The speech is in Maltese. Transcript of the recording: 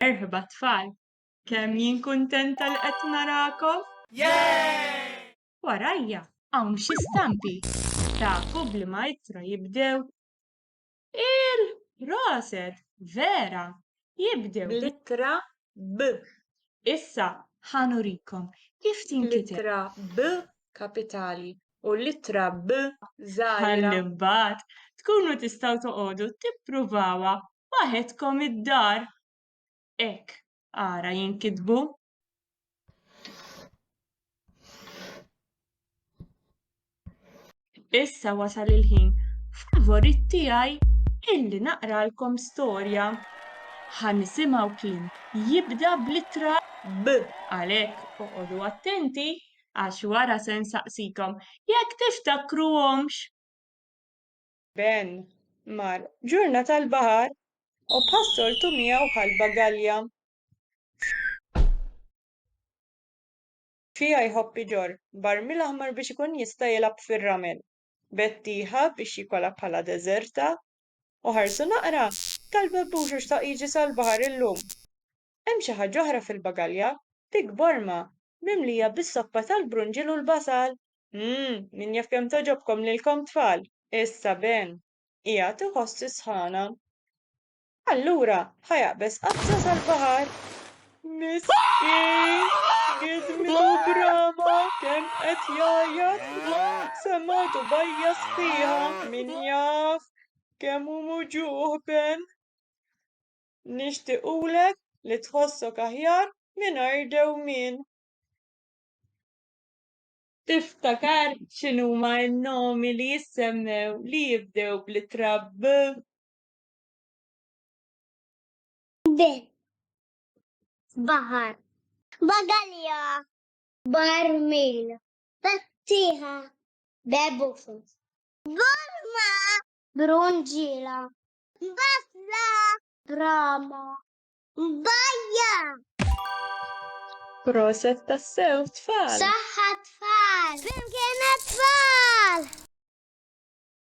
Merħba tfal! Kemm jien kuntenta li qed narakom! Warajja hawn xi stampi. Ta' Kubli Maestro jibdew il-proset, vera, jibdew bl-ittra B. Issa ħa nurikom kif tinkiteb. L-ittra B kapitali u l-ittra B żgħira. Ħalli mbagħad tkunu tistgħu toqogħdu tippruvawha waħedkom id-dar. Hekk ara jinkitbu. Issa wasal il-ħin favorit tiegħi illi naqralkom storja. Ħa nisimgħu kien jibda blittra b għalhekk oqogħdu attenti għax wara se nsaqsikom jekk tiftakruhomx. Ben mar ġurna tal-baħar u bħas-soltu miegħu ħa l-bagalja fiha jħobb iġorr barmil aħmar biex ikun jista' jilgħab fir-ramel. Betty ħa biex jikolha bħala deżerta u ħarsu naqra, talbha b'uxux ta' Jiġi sal-baħar illum. Hemm xi ħaġa oħra fil-bagalja, pikk borma, mimlija bis-soppa tal-brunġiel u l-basal! Umm, min jaf kemm togħġobkom lilkom tfal! Issa Ben qiegħed iħoss is-sħana. Allura ħa jaqbeż qafza sal-baħar. Miskin! Gidmitu b'rama, kemm qed jgħajjat! Semgħetu bajja sħiħa, min jaf kemm hu muġugħ Ben! Nixtiequlek li tħossok aħjar mingħajr dewmien. Tiftakar x'inhuma n-nomi li jissemmew li jibdew bl-ittra B? B. Baħar. Bagalja. Barmil. Battieħa. Bebufus. Burma. Brunġiela. Bafla. Rama. Bajja. Proset tassew tfal. Saħħa tfal. Flimkien tfal.